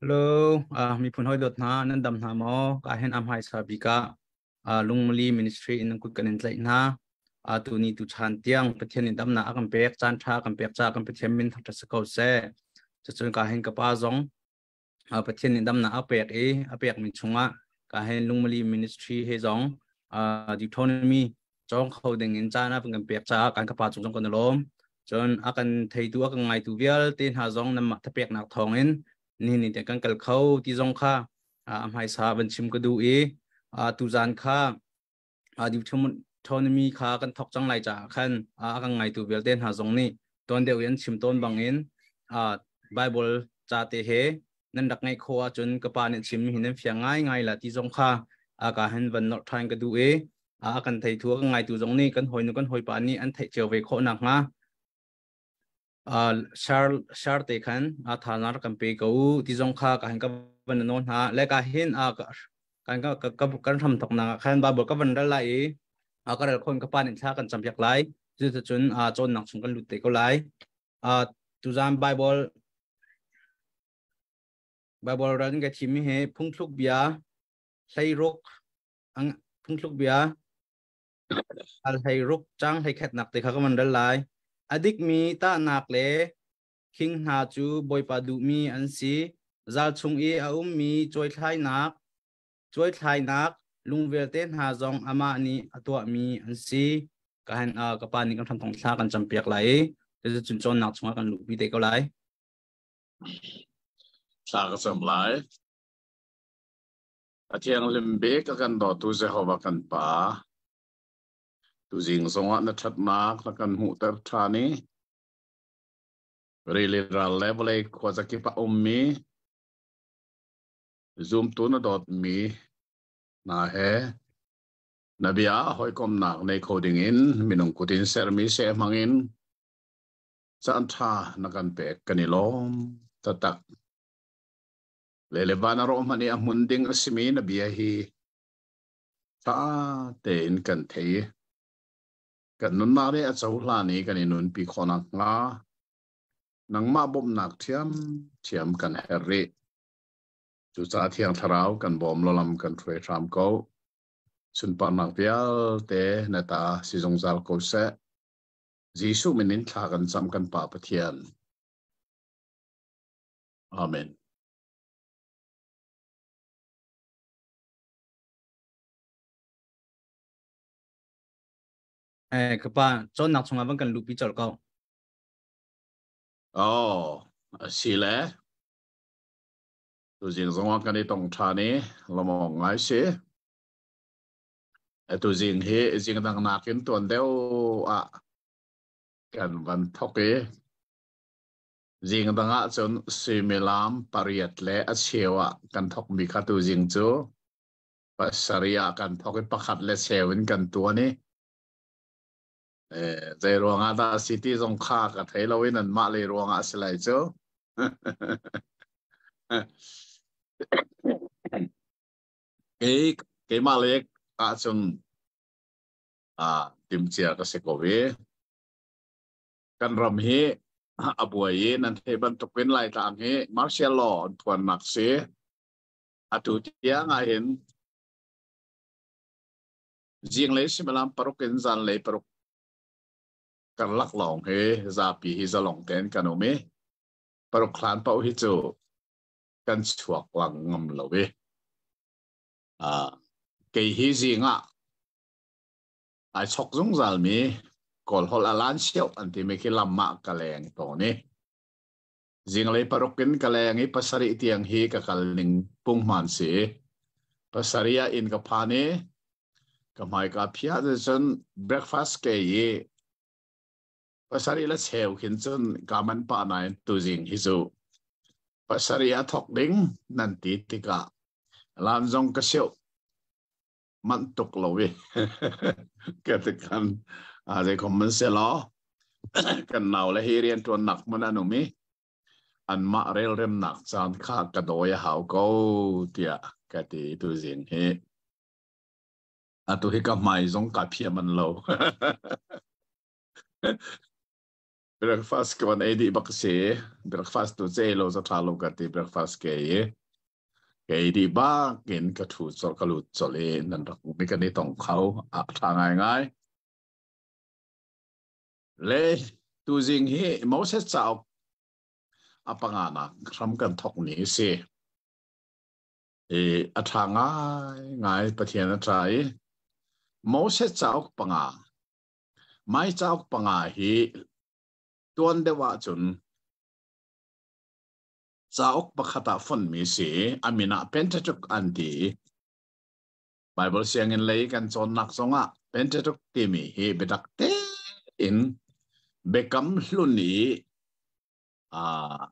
Hello, uh, miphun hoi dot hna nan dam hna maw? Ka hen am hai sa bika uh, lungmali ministry in nan kut kan in tlaih hna. Uh, tu ni tu chan tiang Pathian in dam na akan pek chan tha kan pek cha kan Pathian min thak sa ko se. Cacun ka hen ka pa zong uh, Pathian in dam na apek i apek min chunga ka hen lungmali ministry he zong uh, Deuteronomy cawng kho dingin caan a kan pek caah kan ka pa chung kan lawm cun a kan theitu a kan ngaitu vialte hna zong nanmah thapeknak thawngin nihin te kan kal kho ti zong kha a hmaisa van chim ka du i tu zan kha autonomy kha kan thok cang lai caah khan a kan ngaitu vialte hna zong nih ton deuh in chim ton bangin Bible ca te he nan rak ngeih khawh ahcun ka pa nih chim hi nan fiang ngaingai la ti zong kha a ka han van norh ṭhan ka duh i a kan thei thu kan ngaitu zong nih kan hawinu kan hawipa nih an theih cio ve khawh nak hnga shar shar te khan a tha na kan pe ko ti zong kha ka han ka van no hna le ka hin a kan ka kan ram thok na khan ba bol ka van ral lai i a ka ral khon ka pa nin thla kan cham piak lai cu ta chun a chon nang chung kan lut te ko lai uh, tuzan bible bible ran ka thim he phungthluk bia hleiruk ang phungthluk bia al hleiruk chang hlei khat nak te kha ka man dal lai adik mi ta nak le khing hna cu bawipa duh mi an si zal chung i a um mi choi thlai nak Cuaithlainak lung vialte hna zong amah nih a tuahmi an si. Ka han ka pa nih kan hrangkong thla kan campiak lai i cucu cawnnak chungah kan luhpi te ko lai. Thla ka cam lai. A thianghlim bik ka kan dawtu Jehovah kan Pa. Tuzing zongah na ṭhatnak na kan hmuhter ṭhan i rili ral le vawlei khua zakip a ummi zumtu na dawtmi hna he na bia hawikomnak nei kho dingin minung kut in sermi se hmangin caan ṭha na kan pek kan i lawm tatak le le van a rawh hman i a hmun ding a simi na bia hi ṭha tein kan thei kan nunnak ri a cohlan i kan i nunpi khawnak hnga nangmah bawmhnak thiam thiam kan her rih Cucaah Thiang Thlarau kan bawm lolam kan hruai hram ko. Sunparnak vialte na ta si zungzal ko seh. Jesuh min in thla kan cam kan Pa Pathian. Amen. Eh, kapa, chon nak chunga bang kan lupi chol ko. Oh, a si le. Tuzing zongah kan i tong ṭhan i lawmawng ngai si. Tuzing hi zing dang nakin tuan deuh ah kan van thok i zing dang ah cun suimilam pariat le a cheu ah kan thokmi kha tuzing cu pasarih ah kan thok i pakhat le cheu in kan tuan i zei ruangah dah a si ti zong kha ka thei lo in anmah lei ruangah a si lai cu keimah le ah cun ah timcia ka si ko ve kan ram hi a buai i nan thei bantuk in laitlang hi martial law an phuannak si atu tiang ah hin Zinglei similam paruk in zanlei paruk karlak lawng hi zapi hi zalong tein kan um i paruk hlan pauh hi cu kan chuak lang ngam lo i uh, kei hi zing ah ai chok zungzal mi kawl hol alan siau an ti mi khi lam ah ka leng to ni Zinglei paruk in ka leng i pasarih tiang hi ka kal ning pungman si. Pasarih ah inn ka phan i ka hmai ka phia te cun breakfast ke i pasarih la cheu khin cun ka man pa nain tuzing hi zu pasarih a thok ding nan ti tikah lan zong ka seuh manh tuk lo i ka te kan zei kom man se lo kan nau le hi rian tuan nak man anum i an mah rel rem nak caan kha ka doi a hau ko tia ka ti tu zin hi atu hi ka mai zong ka phiam an lo breakfast kon ei di bak si breakfast tu che lo sa tha lo ka ti breakfast ke i Kei di bakin ka thu colh ka lut colh i nan rak hmuhmi kan i tong kho a ṭha ngaingai. Le tuzing hi Moses cauk a panganak hram kan thokmi hi si. I a ṭha ngaingai Pathian a ṭa i Moses cauk panga mai cauk panga hi tuan deuh ahcun cauk pakhat ah fonmi si a min ah Pentateuch an ti i Baibal sianginn lei kan cawnnak zongah Pentateuch timi hi biatak tein biakam hlun i uh,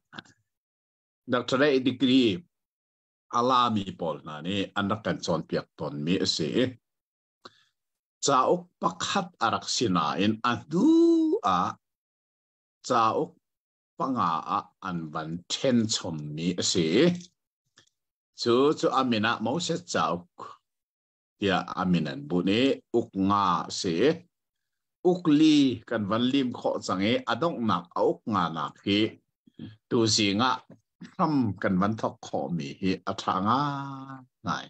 doctorate degree a lami pawl hna nih an rak kan cawnpiak tawnmi a si i cauk pakhat a rak si nain a hnu ah cauk panga ah an van ṭhen chommi a si. Cu cu a min ah Moses cauk tiah a min an bunh i uk nga a si. Ukli kan van lim khawh cang i a donghnak a uk nganak hi tuzing ah hram kan van thok khawhmi hi a ṭha ngai.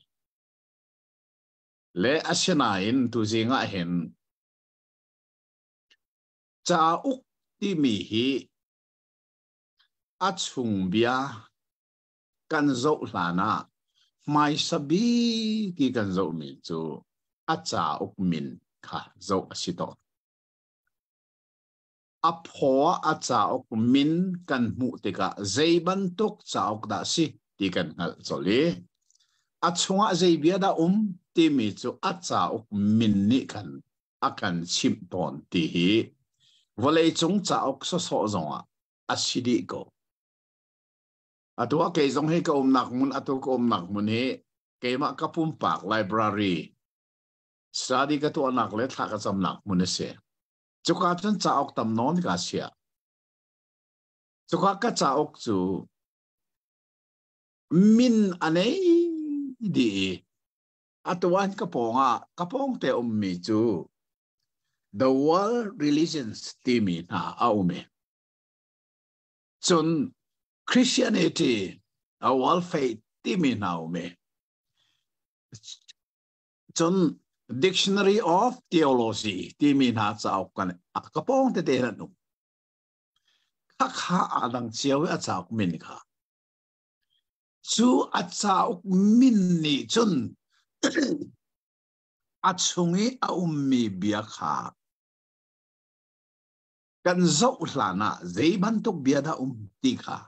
Le asinain tuzing ah hin cauk timi hi a chung bia kan zoh hlan ah hmaisa bi ti kan zohmi cu a cauk min kha zoh a si tawn. A phaw a cauk min kan hmuh tikah zei bantuk cauk dah si ti kan hngalh colh i a chungah zei bia dah um timi cu a cauk min nih khan a kan chimh tawn ti hi vawleicung cauk sawsawh zongah a si dih ko. A tuah kei zong hi ka umnak mun a tu ka umnak mun hi keimah ka pumpak library study ka tuahnak le thla ka camnak mun a si. Cuka cun cauk tam nawn ka sia. Cuka ka cauk cu min a nei di atuan ka pawng ah ka pawng te um mi cu the world religions timi hna a um i cun Christianity a world faith timi hna um i cun Dictionary of Theology timi hna cauk kan ka pawng tete an um khakha adang cio a cauk min kha cu a cauk min nih cun a chung i a ummi bia kha kan zoh hlan ah zei bantuk bia dah um ti kha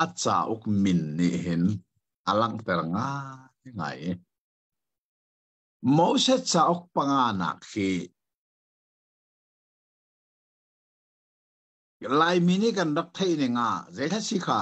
a cauk min nih hin a langhter ngai ngai Moses cauk panga nak khi Laimi nih kan rak theih ning ah zeitlasi kha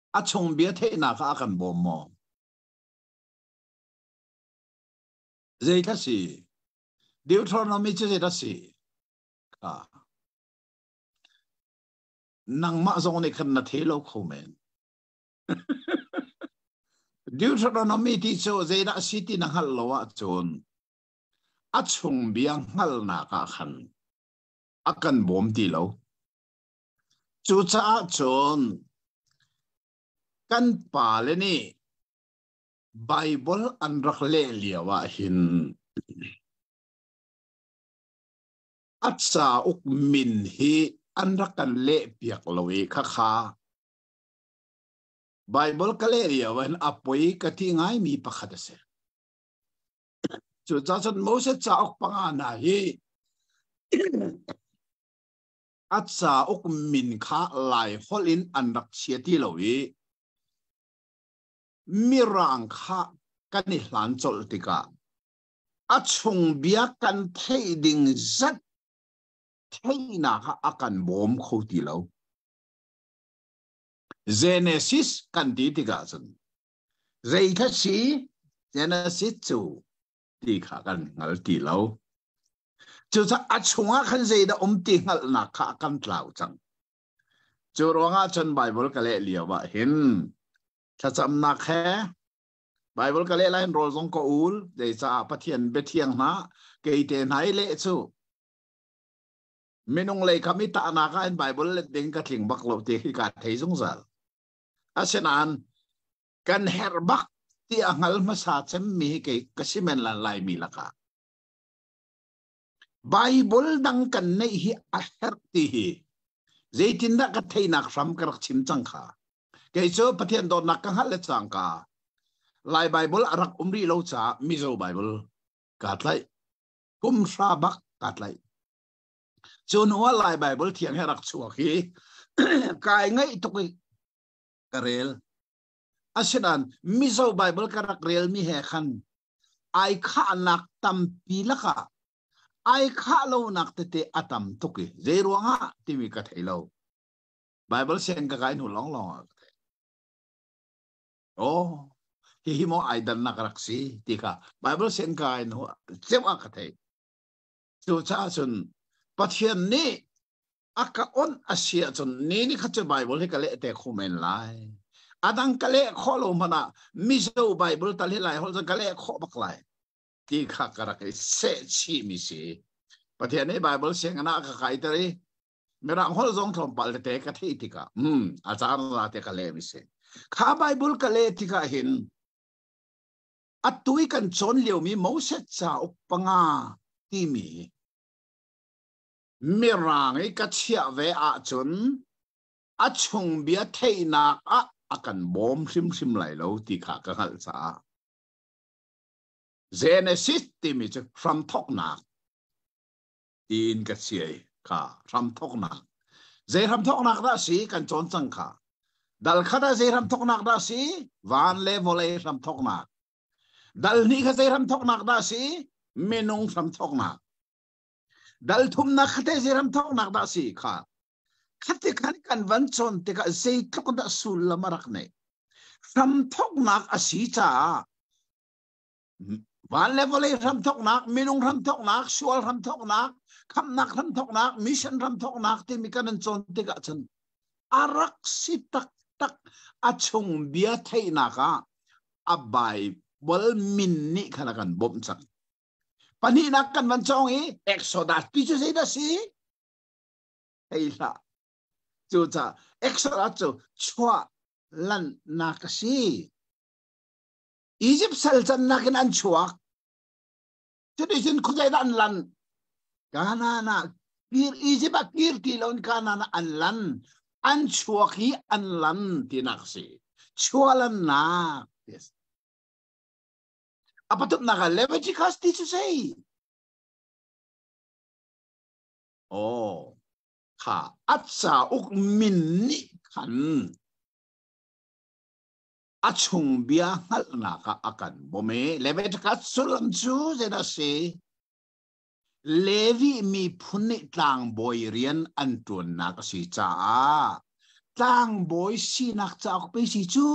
a chung bia theihnak ah a kan bawm maw? Zeitlak si? Deuteronomy cu zeitlak si? Kha. Nangmah zong nih khan na thei lo kho men. Deuteronomy ti cu zeidah si ti na hngalh lo ahcun a chung bia hngalnak ah khan a kan bawm ti lo. Cucaah cun kan pale nih Baibal an rak leh lio ah hin a cauk min hi an rak kan lehpiak lo i khakha Baibal ka leh lio ah hin a poi ka ti ngaimi pakhat a si. Cucacun Moses cauk panga hna hi a cauk min kha laiholh in an rak chia ti lo i mirang kha kan i hlan colh tikah a chung bia kan theih ding zat theihnak a kan bawm kho ti lo. Genesis kan ti tikah cun zeitha si Genesis cu ti kha kan hngal ti lo. Cucah a chungah khan zeidah um ti hngalhnak kha kan tlau cang. Cu ruangah cun Baibal ka leh lio ah hin thlacamnak he Baibal ka leh lain rawl zong ka ul zeicaah Pathian biathiang hna kei te hna i leh cu minung lei kam i tahnak ah in Baibal let ding ka tling bak lo ti khi ka thei zungzal. Asinain kan herh bak ti a hngal hmasa cemmi hi kei ka si men lan laimi lakah Bible dang kan neih hi a herh ti hi zeitindah ka theinak hram ka rak chim cang kha kei cu pathian dawtnak ka hngalh le cang ka lai bible a rak um rih lo ca mizo bible ka tlai kum hra bak ka tlai cun wa lai bible thiang he rak chuak hi kai ngai tuk i ka rel asinan mizo bible ka rak relmi he khan ai khahnak tampi lakah ai khah lonak tete a tam tuk i zei ruangah timi ka thei lo bible sen ka kai hnu long long ah ka thei oh hihi mo ai dan nak rak si ti ka bible sen ka kai hnu ceu a ka thei Cucaah cun Pathian nih a ka onh a si ahcun ni ni kha cu Baibal hi ka leh te kho men lai. A dang ka leh khawh lo hmanh ah Mizo Baibal tal hi lai holh cun ka leh khawh bak lai ti kha ka rak i sehchihmi si. Pathian nih Baibal sianginn ah ka kaiter i Mirang holh zong tlawmpal tete ka theih tikah hmm a caan ra te ka leh mi si. Kha Baibal ka leh tikah hin atu i kan cawn liomi Moses cauk panga timi mirang i ka chiah ve ahcun a chung bia theihnak ah a kan bawm hrimhrim lai lo ti kha ka hngalh caah Genesis timi cu hramthoknak tiin ka siai ka hramthoknak zei hramthoknak dah si kan cawn cang kha dal khat ah zei hramthoknak dah si van le vawlei hramthoknak dal hnih kha zei hramthoknak dah si minung hramthoknak dal thumnak kha te zei hramthoknak dah si kha khati khan kan van cawn tikah zeitluk dah sullam a rak nei hramthoknak a si caah van le vawlei hramthoknak minung hramthoknak sual hramthoknak khamnak hramthoknak mission hramthoknak timi kan an cawn tikah cun a rak si taktak a chung bia theihnak ah a Bible min nih khan a kan bawmh cang pahnihnak kan van cawng i Exodus ti cu zeidah si hei hlah cu ca Exodus cu chuah lannak a si Egypt sal cannak in an chuak. Cuticun khuazei dah an lan? Kanaan ah kir Egypt a kir ti loin Kanaan ah an lan. An chuak hi an lan tinak si. Chualannak. Yes. A patumnak ah Leviticus teaches to say. Oh. Kha atsa uk min nih khan a chung bia hngalhnak ah a kan bawm i Leviticus sullam cu zeidah a si Levi miphun nih tlangbawi rian an ṭuannak a si caah tlangbawi sinak cauk pei si cu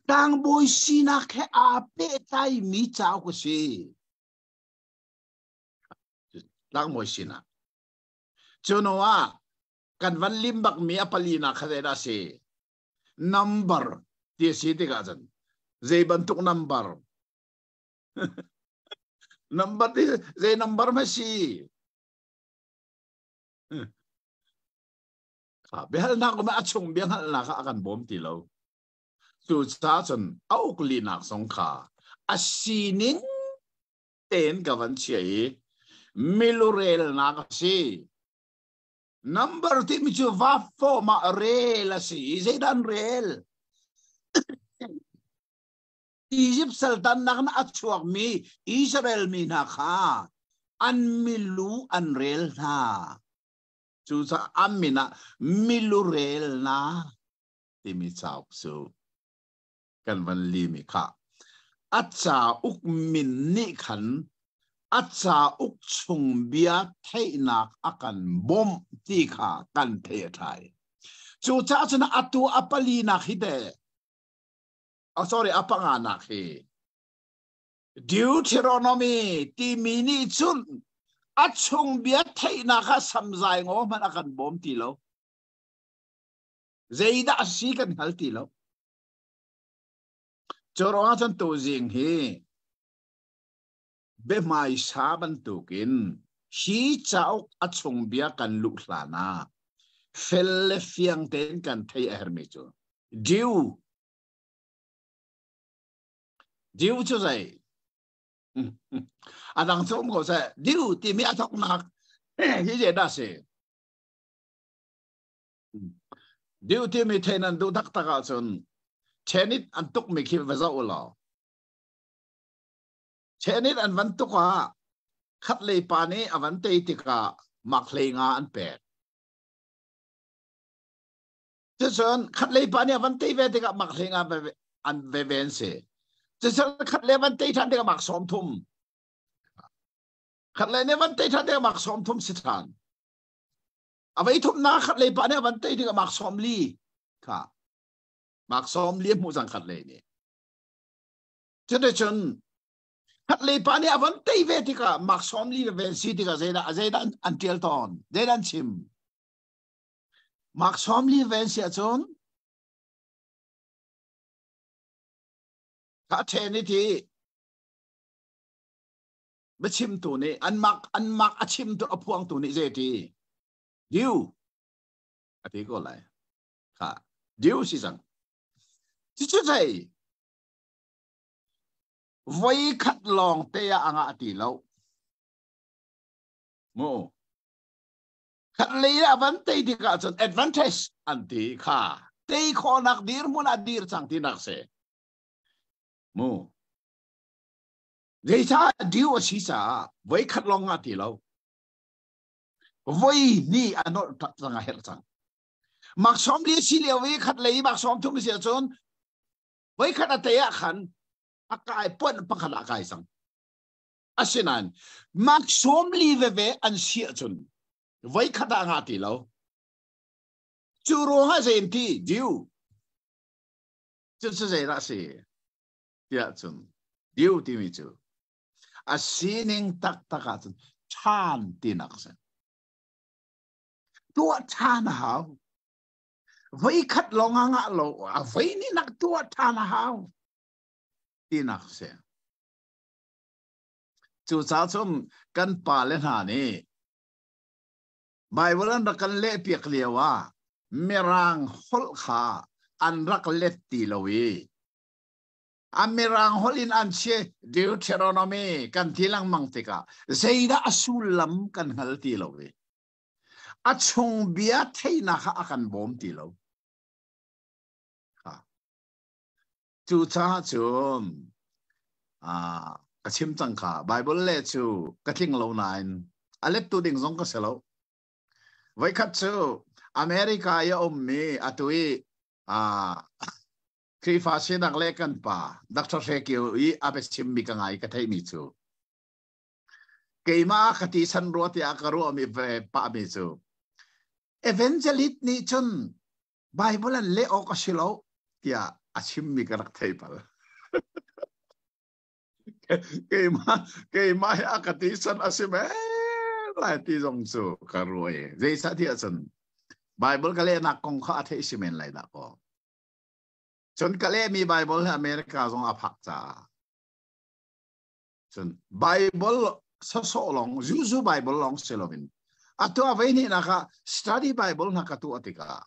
tlangbawi sinak he aa pehtlai mi cauk a si tlangbawi sinak cu hnuah kan van lim bak mi a palinak kha zeidah a si number ti a si tikah cun zei bantuk number number ti zei number ma si biahalnak kuma a chung biahalnak kha a kan bawm ti lo cu ca cun a uklinak zong kha a sinin tein ka van chia i milurelnak a si Number timi cu va form ah rel a si i zeidan rel? Egypt sultannak na a chuakmi Israel mi hna kha an milu an rel hna. Cucaah an min ah milu rel hna timi cauk cu kan van limi kha a ca uk min nih khan a ca uk chung bia theihnak a kan bawmh ti kha kan thei thai cu caah cun atu a pali nak hi de oh sorry a panga nak hi Deuteronomy timi nih cun a chung bia theihnak kha samzai ngo hman a kan bawm ti lo zeidah si kan hal ti lo Cu ruangah cun tuzing hi biahmaisa bantuk in hi cauk a chungbia kan luh hlan ah fel le fiang tein kan theih a herhmi cu Jew. Jew cu zei? A dang cu um ko seh. Jew timi a thoknak hi je dah a si? Duh timi thein an duh taktak ahcun tenit an tukmi khi va zoh u law tenit an van tuk ah khat lei pa nih a van tei tikah maklei nga an pek cucun khat lei pa nih a van tei ve tikah maklei nga an veve an si cucun khat le van tei ṭhan tikah mak sawm thum khat le nih van tei ṭhan tikah mak sawm thum si ṭhan a vei thum na khat lei pa nih a van tei ding a mark som li kha mark som li hmu zang khat lei nih cute chun khat lei pa nih a van tei ve tikah mark som li ve si tikah zeidah zeidan an tial ton zeidan chim mark som li ven si ahcun ka then ni ti biachimtu nih anmak anmak a chimtu a phuangtu nih zeiti diu a ti ko lai kha diu si cang cucu thei voi khat lawng te ah anga ti lo mu khat lei ah van tei tikah cun advantage an ti kha tei khawnak dir hmun ah dir cang ti nak se mu Zeicah deu a si caah voikhat lawng nga ti lo. Voi hnih a nolh cang a herh cang. Mak som li si lio i khat lei mak som thum si ahcun voikhat a te ah khan a kai puan pakhat a kai cang. Asinain mak som li veve an si ahcun voikhat ah nga ti lo. Cu ruangah zein ti deu. Cu cu zeidah si? tiah cun diu timi cu a sining taktak ahcun ṭhan tinak a si tuah ṭhan a hau voikhat lawng a ngah lo a voi nih nak tuah ṭhan a hau tinak si cucaah cun kan pale hna nih Baibal an rak kan lehpiak lio ah Mirang holh kha an rak let ti lo i an mirang holh in an si deuteronomy kan ti lengmang tikah zeidah a sullam kan hngal ti lo i a chung bia theihnak a kan bawm ti lo cu caah cun ka chim cangka Bible le cu ka tling lo nain a lettu ding zong ka si lo voikhat cu America i a ummi atu i Khrihfa sinak le kan pa Dr. Hre Kio i a biachimmi ka ngai ka theihmi cu keimah ka ti san rua tiah ka ruahmi ve pahmi cu evangelist nih cun Bible an leh awk a si lo tiah a chimmi ka rak thei pal. keimah keimah hi a ka ti san a si men lai ti zong cu ka ruai zeisah ti ahcun Bible ka lehnak kong kha a theih si men lai dah ko Cun ka lehmi Baibal hi America zong a phak caah. Cun Baibal sasawh lawng Jews Baibal lawng si loin atu a vei ni nak ah study Bible hna ka tu a tikah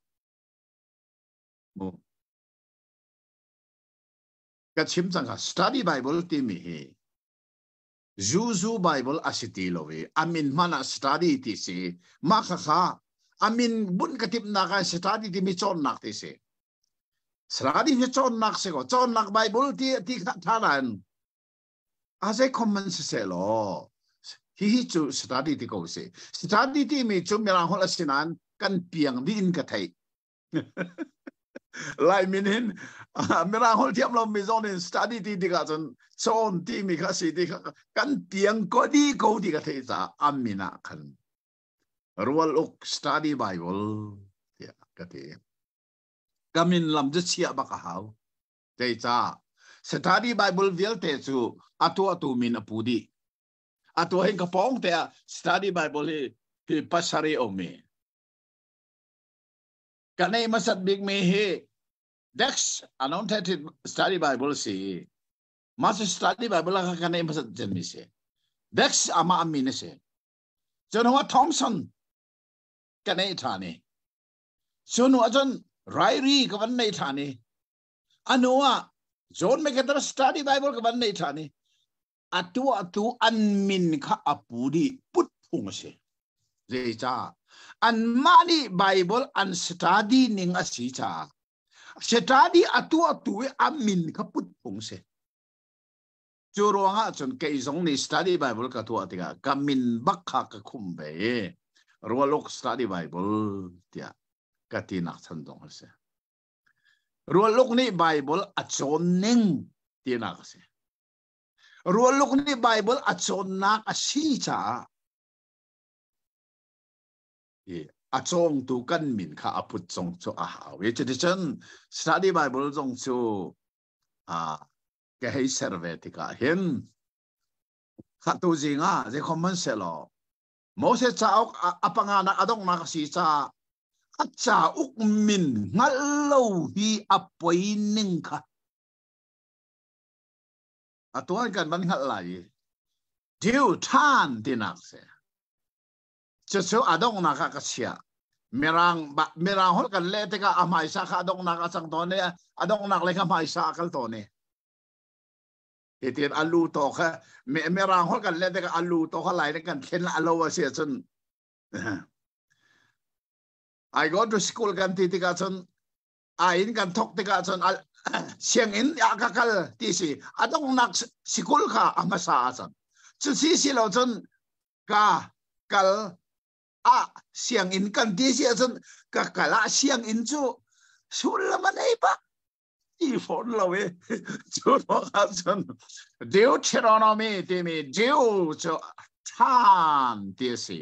ka chim cangka study Bible timi hi Zuzu Baibal a si ti lo i a min hman ah study ti si. Mah kha kha a min bunh ka timhnak ah study timi cawnnak ti si. Study hi cawnnak si ko. Cawnnak Baibal ti ti kha tharan a zei common si se law hihi cu study ti ko si. Study timi cu mirang holh a si nain kan piang dih in ka theih. lai min hin mirang hol thiam lo mi zon in study ti ti ka cun chawn ti mi kha si ti kha kan tiang ko di ko ti ka thei ca amina khan rual uk study bible tia ka ti kamin lam chu chia baka hau tei ca study bible vialte chu atua tu min apu di atua hin ka pong te study bible hi hi pasari omi Kan ei hmasat bikmi hi Dex Announcer Study Bible si. Mas Study Bible kha kan ei hmasat chinmi si. Dex ama ami na si. Cun hwa Thompson kan ei tha ni. Sunu ahcun Rairi ka van nei tha ni. Anu ah John MacArthur Study Bible ka van nei tha ni. a tuahtu an min kha a pu dih put phung a si zeicah anmah nih Bible an study ning a si caah study a tuahtu i a min kha put phung si cu ruangah cun kei zong nih study Bible ka tuah tikah ka min bak kha ka khum ve i rualok study Bible tiah ka ti nak chan dong a si rualok nih Bible a cawn ning tinak a si Rualuk nih Baibal a cawnnak a si caah a cawngtu kan min kha a put zong cu a hau i cuticun study Bible zong cu ka hei ser ve tikah hin khatu zing ah zeikho man selaw Moses cauk a panganak a donghnak a si caah a cauk min hngalh lo hi a poi ning kha A tuan kan van hngalh lai i dil ṭhan tinak si. Cucu a donghnak ah ka chiah. Mirang mirang holh kan le tikah a hmaisa kha a donghnak a cang tawn i a donghnak le kha hmaisa a kal tawn i hitin a lu to kha me mirang holh kan le tikah a lu to kha lai ne kan thlen a lo a si cun I go to school kan ti tikah cun ai in kan thok tikah cun sianginn ah ka kal ti si a dongnak sikul kha a hmasa a cang cu si si lo cun ka kal a sianginn kan ti si cun ka kal a sianginn cu sullam an ei bak i fon lo e cu ro khan cun deuteronomy timi deu cu than ti si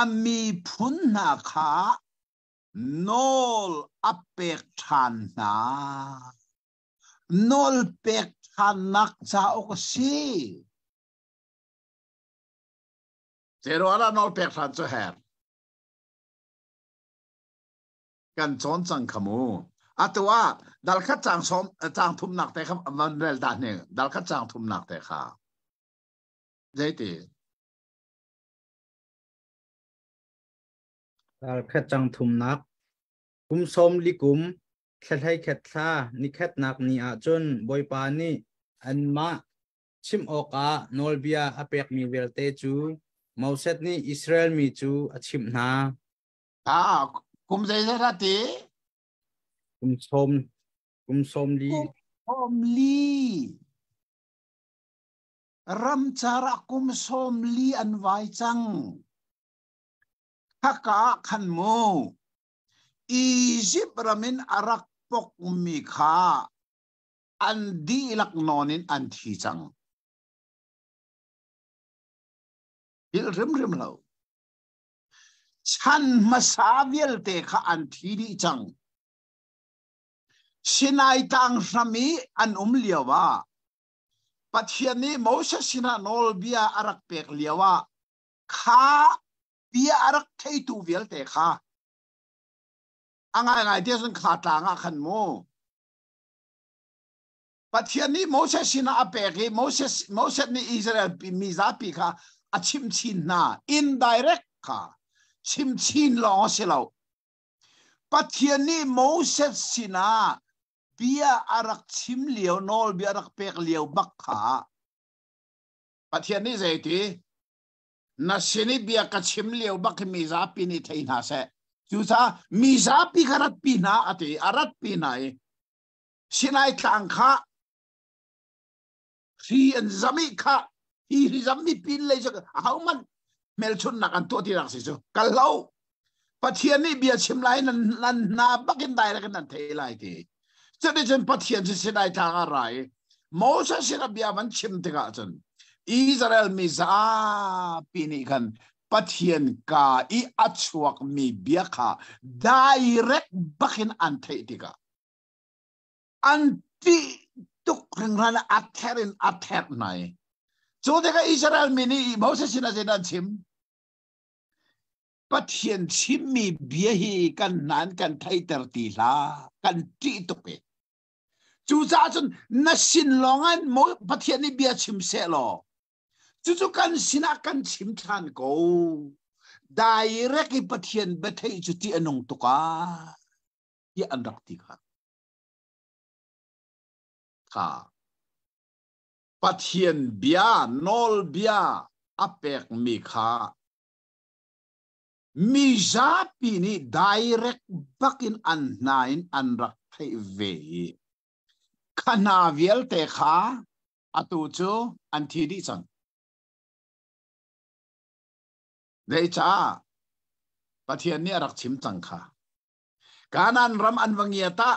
a miphun hna kha nawl a pek ṭhan hna. Nawl pek ṭhannak cauk a si. Zeiruangah nawl pek ṭhan cu her? Kan cawn cang kha mu. Atu ah dalkhat cang som cang thumnak te kha van rel ta ne. Dalkhat cang thumnak te kha. Zeiti? Tarkhat cang thumnak Kum sawm li kum thlahlei khet thla ni khetnak ni ah cun Bawipa nih anmah chim awkah nawlbia a pekmi vialte cu Moses nih Israel mi cu a chimh hna. Ah, kum zeizat ati? Kum sawm kum sawm li. Kum sawm li. Ramcar ah kum sawm li an vai cang. Haka ah khan mu. Egypt ramin a rak pokmi kha an dihlak nawn in an thi cang. Hil rimrim lo. Chan hmasa vialte kha an thi dih cang. Sinai tang hram i an um lio ah Pathian nih Moses sinah nawlbia a rak pek lio ah kha bia a rak theitu vialte kha a ngaingai te cun kha tlang ah khan mu. Pathian nih Moses sinah a pek i Moses Moses nih Israel mi zapi kha a chim chin hna indirect kha chim chin lawng a si lo Pathian nih Moses sinah bia a rak chim lio nawlbia a rak pek lio bak kha Pathian nih zeiti na sin i bia ka chim lio bak hi mi zapi nih thei hna seh cucaah mi zapi kha ratpi hna a ti a ratpi hna i sinai tlang kha hri an zam i kha hi hri zam hi pin lei cu ahohmanh hmelchunnak an tuah tinak si cu kal lo pathian nih bia chim lai nan nan hna bakin direct in an thei lai ti cuticun pathian cu sidai tlang a ra i Moses in a bia van chim tikah cun Israel mi zapi nih khan pathian ka i a chuak mi bia kha direct bakin an theih tikah an tih tuk ringhran a ther in a ther hna i cu tikah Israel mi nih Moses sin a sin an chim Pathian chimmi bia hi kan nan kan theiter ti hlah kan ṭih tuk i cucaah cun na sin lawngah Pathian nih bia chim seh law cucu kan sinah kan chim ṭhan ko direct i Pathian biatheih cu ṭih a nung tuk ah tiah an rak ti kha kha Pathian bia nawlbia a pekmi kha mi zapi nih direct bakin an hna in an rak theih ve i kha hna vialte kha atu cu an thi dih cang zeicah Pathian nih a rak chim cang kha Kanan ram an va ngia ta.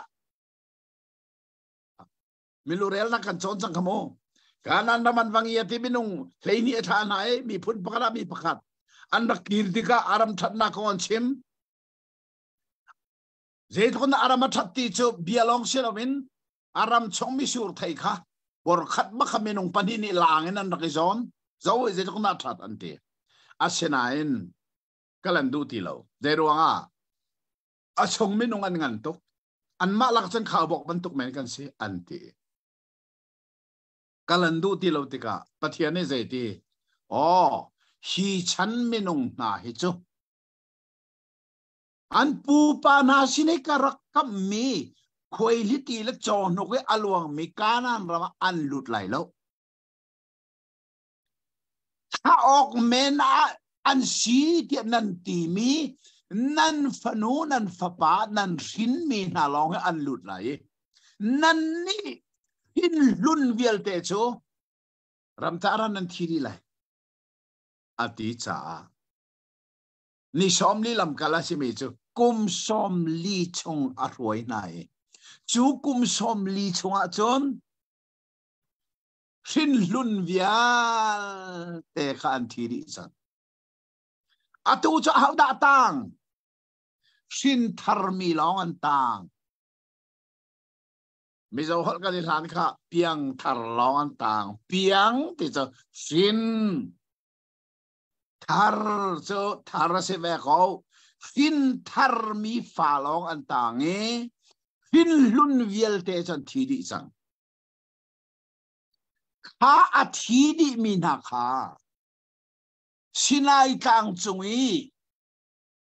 Milurel na kan cawn cang kha mu. Kanan ram an va ngia ti minung hleini a thla na e mi phun pakhat ah mi pakhat an rak kir tikah aram thatna kong an chim. Zeitun aram a that ti cu bia long si loin aram chong mi sur thei kha bor khat ba kha minung pani ni lang in an rak i zawn. Zo zeitun a that an ti. Asinain ka lan duh ti lo zei ruang ah a chung minung an ngan tuk an mah lak cun khao bok bantuk men kan si an ti ka lan duh ti lo tikah pathian nih zei ti oh hi chan minung hna hi cu an pupa hna sinai ka rak kam mi khuai li ti le chaw hnuk i aluang mi kanan ram an lut lai lo thlah awk men ah an si tiah nan timi nan fanu nan fapa nan hrinmi hna lawng hi an lut lai i nan nih hin hlun vialte cu ramtah ran nan thi dih lai a ti caah ni sawm li lamkal a simi cu kum sawm li chung a hruai hna i cu kum sawm li chung ah cun hrinhlun vialte kha an thi dih cang. Atu cu ahodah tang? Hrinthar mi lawng an tang. Mizo holh kan i hlan kha piang thar lawng an tang. Piang ti cu hrin. Thar cu thar a si ve ko. Hrin thar mi fa lawng an tang i hrinhlun vialte cu an thi dih cang. Kha a thi dihmi hna kha Sinai tlang cung i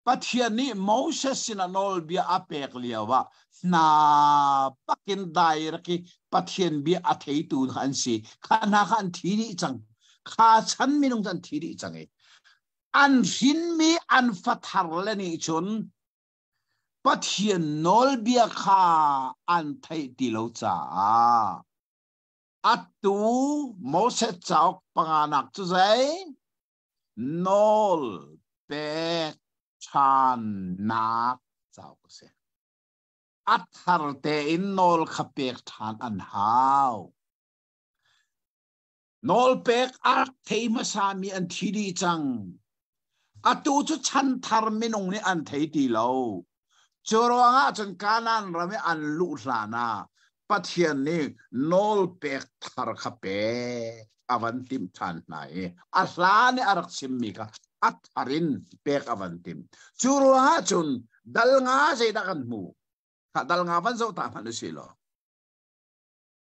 Pathian nih Moses sinah nawlbia a pek lioah hna bakin direct i Pathian bia a theitu hna an si. Kha hna kha an thi dih cang. Kha chan minung an thi dih cang i an hrinmi an fathar le nih cun Pathian nawlbia kha an theih ti lo caah attu Moses cauk panganak cu zei nawl pek ṭhannak cauk a si. A thar tein nawl kha pek ṭhan an hau. nawlpek a thei hmasa mi an thi dih cang atu cu chan thar minung nih an thei ti lo cu ruang ah cun kanan ram i an luh hlan ah pathian nih nawl pek thar kha pek a van timh than hna i a hlan i a rak chimmi kha a thar in pek a van timh cu ruang ah cun dal nga zeidah kan hmu dal nga van zoh ta hmanh u si law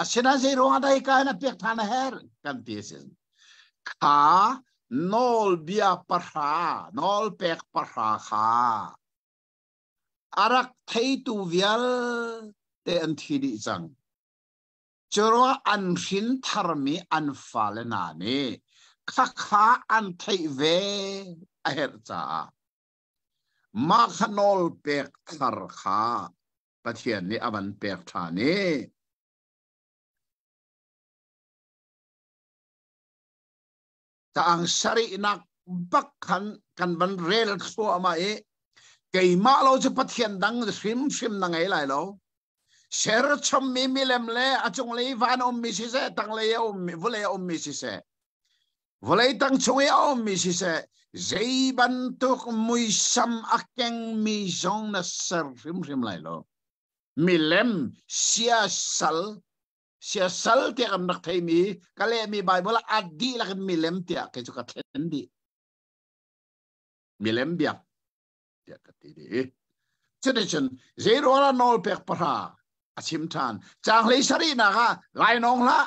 Asina zeiruangah dai ka na pek than a her kan ti sin. Kha nawlbia pahra, nawl pek pahra kha arak theitu vialte an thi dih cang. Cura an hrin tharmi an fale na nih khakha an theih ve a herh caah mah kha nawl pek thar kha Pathian nih a van pek ṭhan i taang sarihnak bak khan kan van rel thluahmah i keimah lo cu pathian dang hrimhrim na ngei lai lo serchommi milem le a cunglei van ummi siseh tanglei a ummi vulei a ummi siseh vawlei tang chung i a ummi siseh zei bantuk muisam a kengmi zong na ser hrimhrim lai lo milem siasal siasal tiah kan rak theimi ka lehmi bible a dihlak in milem tiah kei cu ka thlen dih milem biak tiah ka ti dih cuticun zeirual a nawl pek pahra a chim ṭhan changlei sarihnak ah lainawng hlah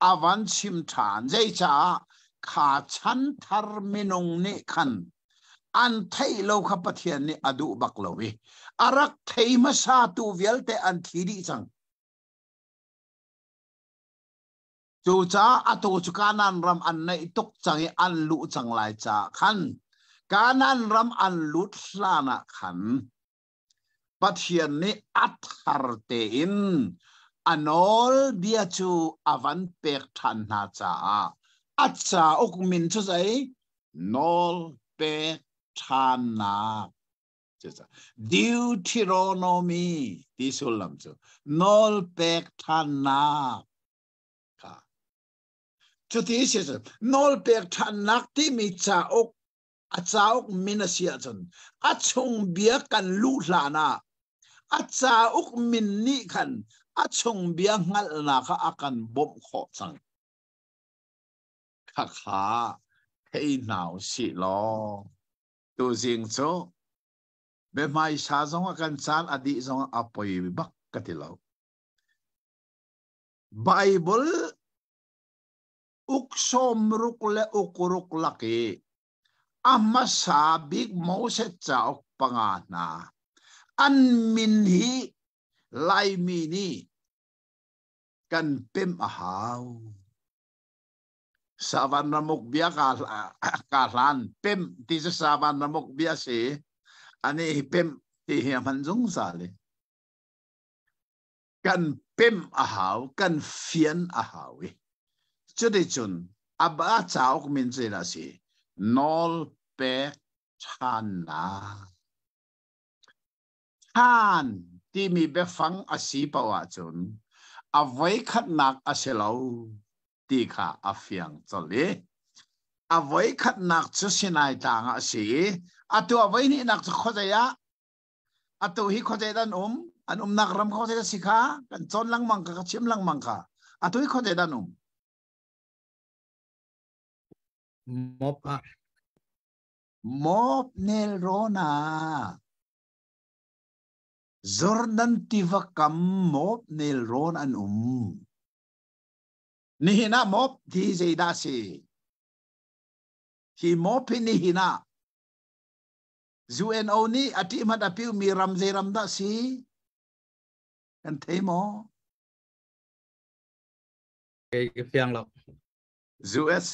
a van chim ṭhan. Zeicah? Kha chanthar minung nih khan an theih lo kha Pathian nih a duh bak lo i a rak thei hmasatu vialte an thi dih cang. Cucaah atu cu Kanan ram an naih tuk cang i an luh cang lai caah khan Kanan ram an lut hlan ah khan Pathian nih a thar tein a nawlbia cu a van pek ṭhan hna caah a cauk min cu zei nawl pek ṭhannak Deuteronomy ti sullam cu nawl pek ṭhannak kha cuti a si nawl pek ṭhannak timi cauk a cauk min a si ahcun a chung bia kan luh hlan ah a cauk min nih khan a chung bia hngalhnak kha a kan bawmh khawh cang khakha thei hna u si law tuzing cu biahmaisa zong a kan caan a dih zong a poi bak ka ti lo Bible uk sawmruk le ukuruk lak i a hmasa bik Moses cauk panga hna an min hi Laimi nih kan pem a hau savan ramuk bia ka ka hlan pem ti se savan ramuk bia si ani pem ti hi hman zungzal i kan pem a hau kan fian a hau i cuticun a ba cauk min cu a si nawl pek ṭhannak ṭhan timi biafang a si poh ahcun a voikhatnak a si lo ti kha a fiang colh i a voikhatnak cu sinai tlang ah a si i a tuah voi hnihnak cu khuazei ah atu hi khuazei dan um an umnak ram khuazei da si kha kan cawn lengmang kha ka chim lengmang kha atu hi khuazei dan um mob ah mob nel rona Jordan tiva kam mob nel ron an um ni hina mob ti zei da si hi mob hi ni hina UNO nih a ṭihmat a piuhmi ram zeiram dah si kan thei maw? Kei ka fiang lo. US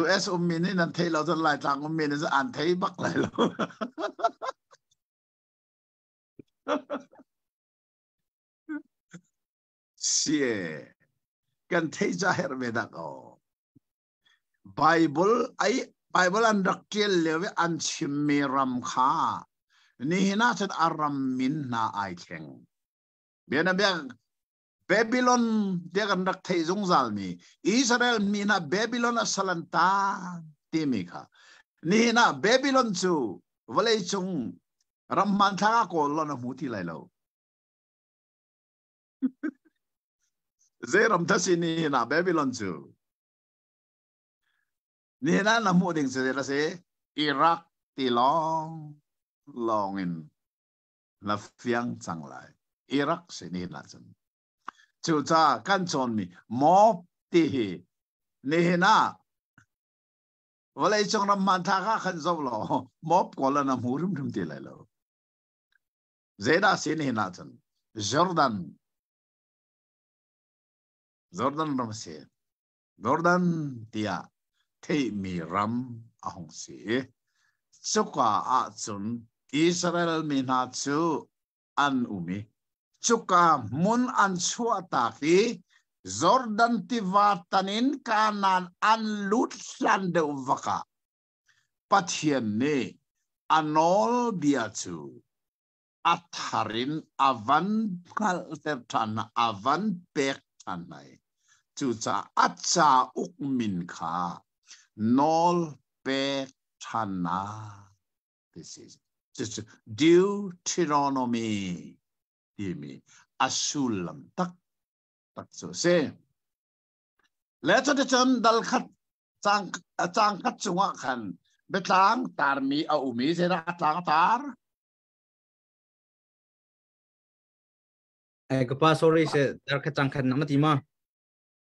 US ummi nih nan thei lo cun Laitlang ummi nih an thei bak lai lo. Sie kan thei ca herh ve dak o. Bible ai Bible an rak tial leo i an chimmi ram kha nihin ah cun a ram min hna ai thleng. Bianabia Babylon dia kan rak thei zungzalmi Israel mi hna Babylon a salan ta timi kha nihin ah Babylon cu vawlei cung ram hmanthlak ah kawl lon a hmu ti lai lo. Zeiram dah si ni na Babylon cu? Ni na na hmuh ding si na si Iraq ti lawng lawng in na fiang cang lai. Iraq si ni na cun. Cuca kan cawnmi mob ti hi nihin ah vawlei cung ram hmanthlak ah khan zoh law mob kawl an hmu hrimhrim ti lai lo. Zeidah sin hin ahcun Jordan Jordan ram a si. Jordan tiah theihmi ram a hung si i cuka ah cun Israel mi hna cu an um i cuka hmun an chuahtak i Jordan tiva tan in Kanaan an lut hlan deuh vakah Pathian nih a nawlbia cu a thar in a van hngalhter ṭhan hna, a van pek ṭhan hna i cucaah a cauk min kha nawl pek ṭhannak ti si. Cucu Deuteronomy timi a sullam taktak cu a si. Le cun dal khat Cang, a cang khat chungah khan biatlang tarmi a um i zeidah a tlang a tar? Ai ka pa sorry se dar khat cang khat nama ti ma?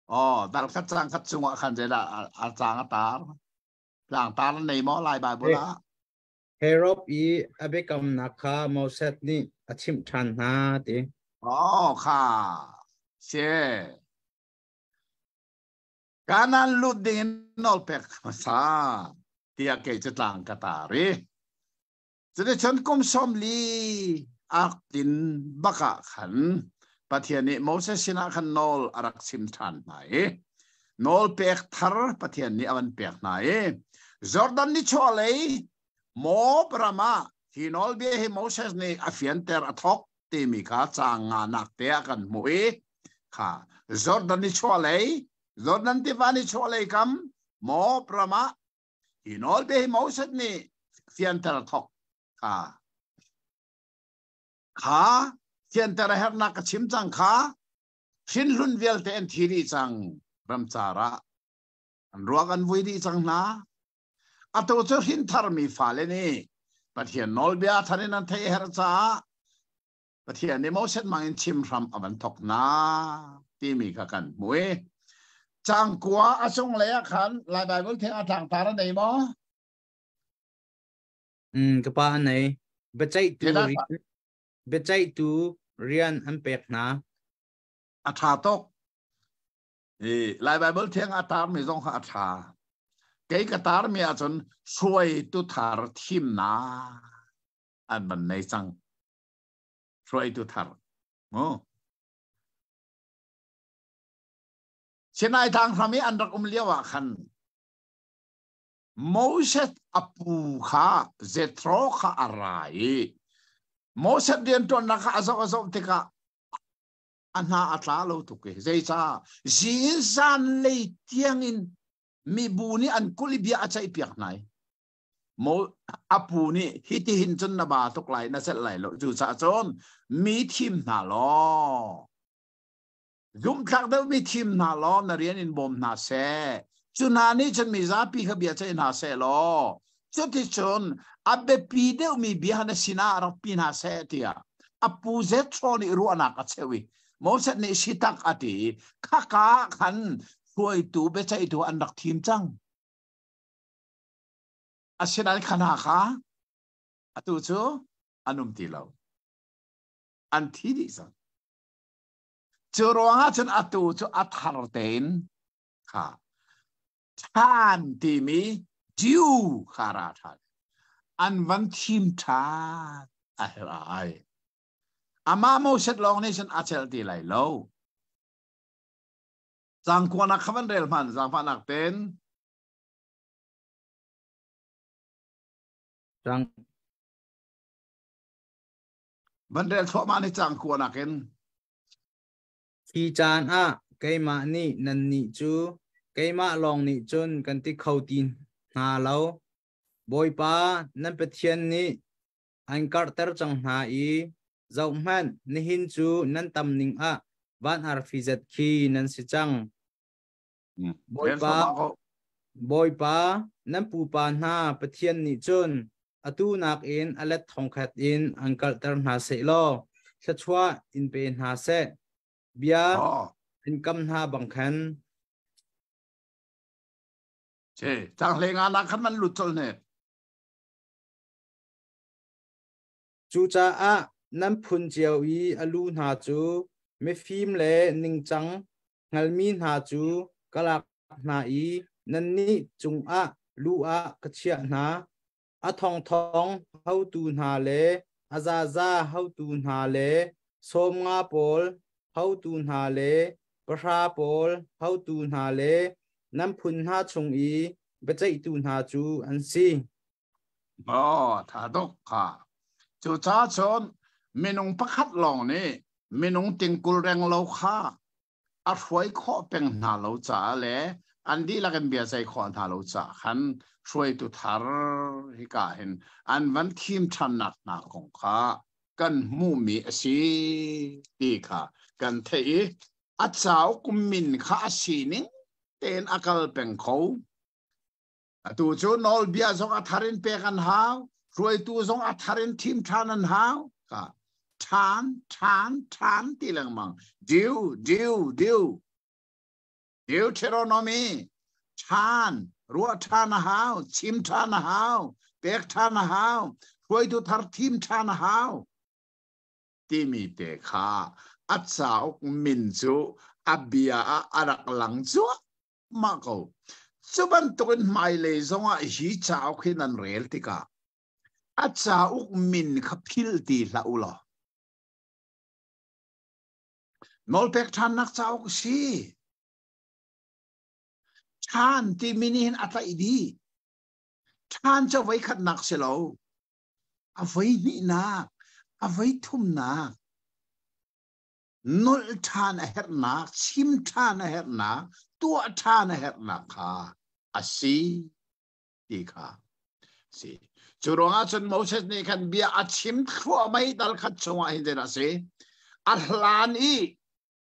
Oh, dar khat cang khat chungah khan zeidah a tlang a tar? Tlang tar na nei maw lai Bible ah? Herod i abekam nak kha Moses nih a chimh ṭhan hna ti. Oh kha. Se. kanan lut ding in nawl pek hmasa tiah kei cu tlang ka tari cuticun kum sawmli ak in baka khan pathian nih Moses sinah khan nawl a rak sim ṭhan hna i nawl pek thar pathian nih a van pek hna i Jordan ni chawlei Moab ram ah hi nawlbia hi Moses nih a fianter a thawk timi kha caang nganak te a kan hmuh i kha Jordan ni chualei Jordan tiva ni chualei kam mob ramah hi nawl te hi Moses nih fianter thok kha kha fianter hernak ka chim cang kha hrin hlun vialte an thi dih cang ramcar ah an ruak an vui dih cang hna atu cu hrintharmi fale nih Pathian nawlbia thar in an theih her caah Pathian nih Moses mang in chim hram a van thok na timi kha kan hmui cangkua a cung lei ah khan lai Bible theng a tlang tar an nei maw mm ka pa nei biaceih tu biaceih tu rian an pek hna a tha tok i lai bible theng a tarmi zong kha a ṭha kei ka tarmi ahcun hruaitu thar thimnak an van nei cang hruaitu thar mu sinai thang hram i an rak um lio ah khan Moses apu kha Jethro kha a ra i Moses rianṭuannak kha a zoh a zoh tikah a hna a tla lo tuk i zeicah zizan lei tiangin mibu nih an kul i bia a ceih piak hna i mo apu nih hitihin cun na ba tuk lai na celh lai lo cucaah cun mi thim hna law zumthlak deuhmi thim hna law na rian in bawm hna seh cu hna nih cun mi zapi kha bia ceih hna seh law cuticun a biapi deuhmi bia na sinah rak pi hna seh tiah a pu Jethro nih ruahnak a cheu i Moses nih sitak a ti khaka ah khan hruaitu biaceihtu an rak thim cang asinain khana kha atu cu an um ti lo an thi dih cang cu ruangah cun atu cu a thar tein kha than timi Jew kha ra than an van thim than a herh ai amah Moses lawng nih cun a chelh ti lai lo cangkuanak kha van rel hman zaangfahnak ten cang van rel thluahmah ni cangkua nakin Khi caan ah keimah nih nannih cu keimah lawng nih cun kan ti kho ti hna lo. Bawipa nan Pathian nih an karhter cang hna i zohhmanh nihin cu nan tam ning ah van arfi zet khi nan si cang. Bawipa, Bawipa, nan pupa hna Pathian nih cun atu nakin a let thongkhat in an kalhter hna seh law thluachuah in pe hna seh. Bia in kam hna bang khan. Che, tanghle nga na khan nan lut col ne. Cucaah nan phun cio i a lu hna cu mifim le ningcang hngalmi hna cu ka lak hna i nannih cungah lu ah ka chiah hna. A thongthong hotu hna le a zaza hotu hna le sawmnga pawl hotu hna le pahra pawl hotu hna le nan phun hna chung i biaceihtu hna cu an si. Maw, tha tuk kha. Cu ca chun minung pakhat lawng nih minung tingkul reng lo kha a hruai khawh peng hna lo caah le an dihlak in bia sei khawh hna lo caah khan hruaitu thar hika hin an van thim ṭhannak hna kong kha kan hmuhmi a si ti kha kan theih i a cauk min kha a sining tein a kal peng kho. Atu cu nawlbia zong a thar in pek an hau. Hruaitu zong a thar in thim ṭhan an hau. Ṭhan, ṭhan, ṭhan ti lengmang. Diu, diu, diu. Diu Deuteronomy. Ṭhan, ruah ṭhan a hau, chim ṭhan a hau, pek ṭhan a hau, hruaitu thar thim ṭhan a hau. Timi te kha a cauk min cu a bia ah a rak lang cuah. ma ko cu bantukin hmailei zongah hi cauk hi nan rel tikah a cauk min kha phil ti hlah u law nawlpek ṭhannak cauk si ṭhan timi nih hin a tlaih dih ṭhan cu voi khatnak si lo a voi hnihnak a voi thumnak nolh ṭhan a herhnak, chim ṭhan a herhnak, tuah ṭhan a herhnak kha a si ti kha a si. Cu ruangah cun Moses nih khan bia a chim thluahmai dal khat chungah hin a si. A hlan i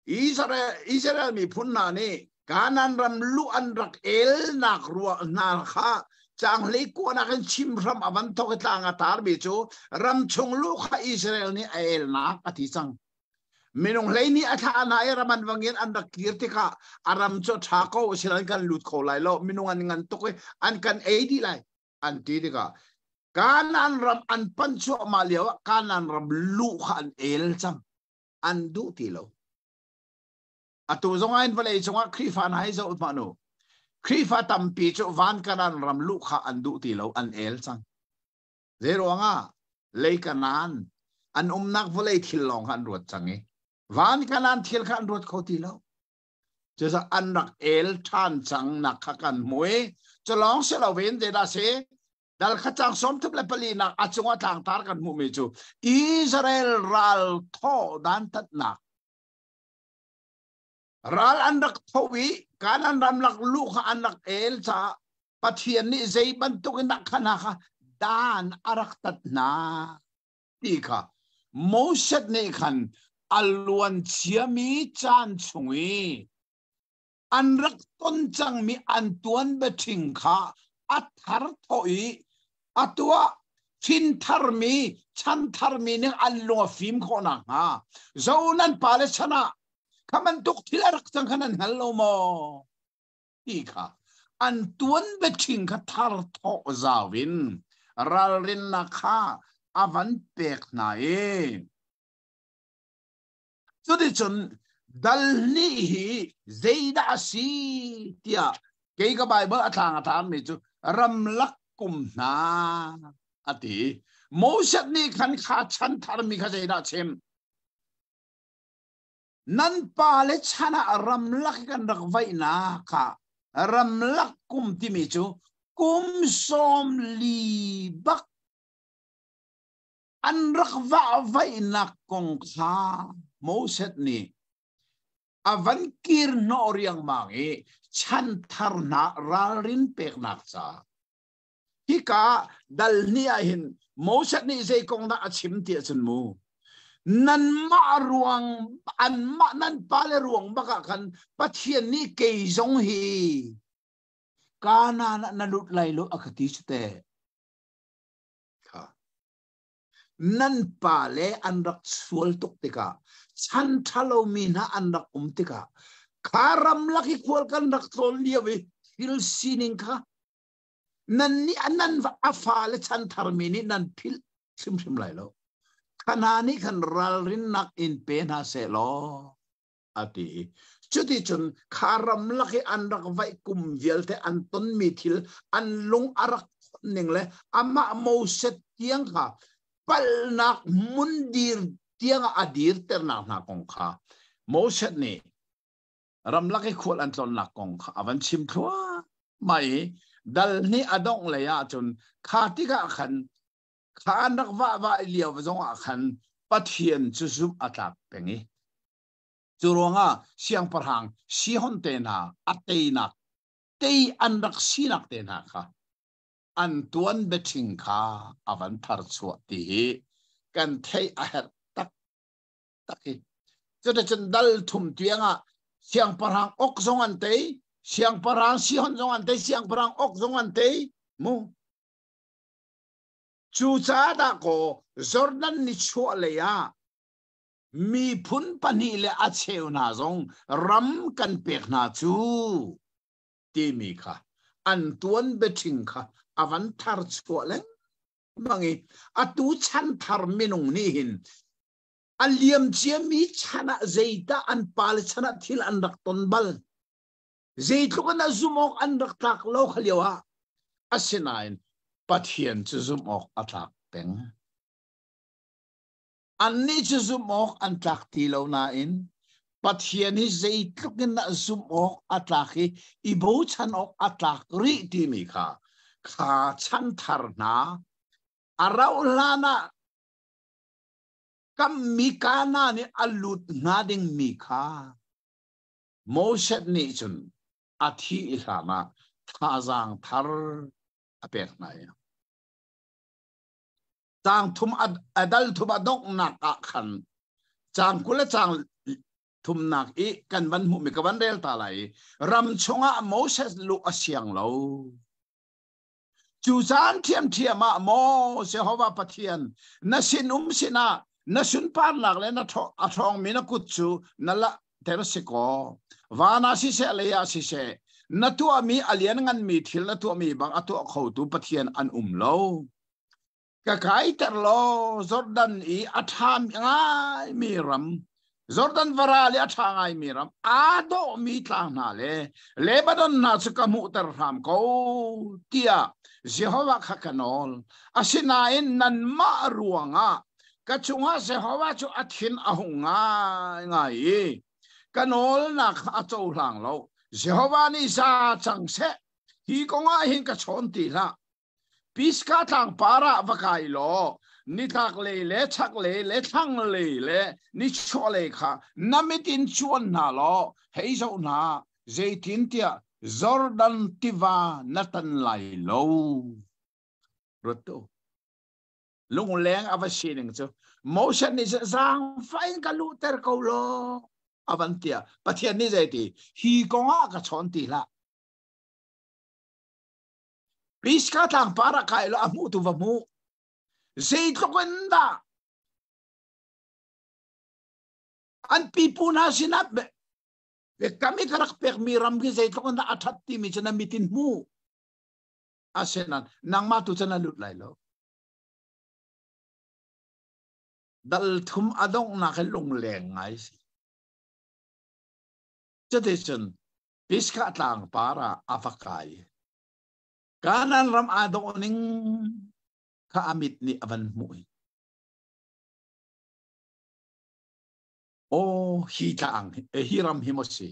Israel, Israel miphun hna nih Kanan ram luh an rak elnak ruah hna kha cang hlei kuanak in chim hram a van thok i tlang a tarmi cu ram chung lu kha Israel nih a elnak a ti cang. minung hleini a thla na i raman wangin an rak kir tikah a ram cu tha ko sin an kan lut kho lai lo minung an ngan tuk i an kan ei di lai an ti tikah kanan ram an pan chuahma lio kanan ram lu kha an el cang an duh ti lo atu zong ain vale chungah khrifa na hai zo ma nu khrifa tampi cu van kanan ram lu kha an duh ti lo an el cang Zeiruangah lei kanan an umnak vawlei thil lawng kha an ruat cang i van kanan thil kha an ruat kho ti lo cucu an rak el ṭhan cang nak kha kan hmui cu lawng si lo ven te dah se dal khacang som thup le pali nak a cunga tlangtar kan hmuhmi cu Israel ral thaw dan tatnak ral an rak tho i kanan ramlak lu kha an rak el caah pathian nih zei bantuk in dah khana kha dan a rak tat hna ti kha Moses nih khan a luan ciami caan chung i an rak ton cangmi an tuan bething kha a thar tho i a tuah thin tharmi chan tharmi nih an lung a fim khawh nakhnga zo nan pale chan ah Kha bantuk thil a rak cang khan an hngal lo maw? Ti kha an tuan bechin kha thar thawh zau in ralrinnak kha a van pek hna i cuticun dal hnih hi zeidah a si tiah kei ka Baibal a tlang a tangmi cu ramlak kum hna a ti. Moses nih khan kha chan tharmi kha zeidah a chim? nan pale chan ah ramlak i kan rak vaihnak kha ramlak kum timi cu kum sawm li bak an rak va vaihnak kong kha Moses nih a van kir hnawh riangmang i chanthar hna ralrin peknak ca Hika dalhni ah hin Moses nih zei kong dah a chim ti ahcun mu nanmah ruang anmah nan pale ruang bakah khan Pathian nih kei zong hi kanan ah na lut lai lo a ka ti cu te nan pale an rak sual tuk tikah chan ṭhalo mi hna an rak um tikah kha ram lak i khual kan rak tlawn lio i thil sining kha nan nih nan a fale chan tharmi nih nan philh hrimhrim lai lo kha hna nih khan ralrinnak in pe hna seh law a ti cuti cun kha ram lak i an rak vaih kum vialte an tonmi thil an lung a rak ning le amah moset tiang kha palnak mun dir tiang a dirternak hna kong kha Moses nih ramlak i khual an tlonnak kong kha a van chim thluahmah i dal nih a dongh lei ahcun kha tikah khan kha an rak vah vah i lio zongah khan pathian cu zumh a tlak peng i cu ruangah siangpahrang sihon te hna a teinak tei an rak sinak te hna kha an tuan betting kha a van thar chuah ti hi kan theih a herh tak hi cun cun dal thum tiang ah siangpahrang ok zong an tei siangpahrang sihon zong an tei siangpahrang ok zong an tei mu cu ca dako jordan ni chuah lei ah miphun pahnih le a cheu hna zong ram kan pek hna cu timi kha an tuan betting kha avan thar chuah leng mangi atu chan thar minung ni hin a liam ciami chan ah zeidah an pale chan ah thil an rak ton bal zeitluk in a zumh awk an rak tlak lo khalio ah asinain pathian cu zumh awk a tlak peng annih cu zumh awk an tlak ti lo nain pathian hi zeitluk in a zumh awk a tlak i i bochan awk a tlak rih timi kha kha chan thar hna a rauh hlan ah Kammi Kana nih a lut hna dingmi kha Moses nih cun a thih i hlan ah thazaang thar a pek hna i caang thum adal thum a donghnak ah khan caang kul le caang thumnak i kan van hmuhmi ka van rel ta lai i ram chungah Moses luh a siang lo Cu caan ṭhiamṭhiam ah maw Jehovah Pathian na sinum sinah na sunparnak le na a ṭhawngmi na kut cu na la ter si kaw van ah siseh lei ah siseh na tuahmi a lian nganmi thil na tuahmi bang a tuah khotu Pathian an um lo. ka kaiter lo Jordan i a ṭhami ngaimi ram Jordan vara le a ṭha ngaimi ram aa dawhmi tlang hna le Lebanon hna cu ka hmuhter hram ko tiah Jehovah kha ka nawl asinain nanmah ruangah ka cungah Jehovah cu a thin a hung ngaingai i ka nawlnak kha a cohlang lo Jehovah nih za cang seh hi kongah hin ka chawn ti hlah Piska tlang par ah va kai law nitlaklei le chaklei le thlanglei le nichuahlei kha na mit in chuan hna law hei zoh hna zeitintiah Jordan tiva na tan lai lo. Ruat tu. Lungleng a va si ning cu. Moses nih zaangfai in ka luhter ko law. A van tia. Pathian nih zei ti? Hi kong ah ka chawn ti hlah. Piska tlangpar ah kai lo a hmuh tu va hmuh. Zeitluk in dah an pipu hna sinah be kami ka rak pek mi ram khi zeitluk in dah a that ti mi cun mitin hmu asenan nangma tu cun a lut lai lo dal thum a dongnak he lungleng ngai si cute cun Pisgah tlang par ah a va kai. Kanan ram aa dawh ning kha amit nih a van hmuh. Oh, hi tlang, hi ram hi mo si.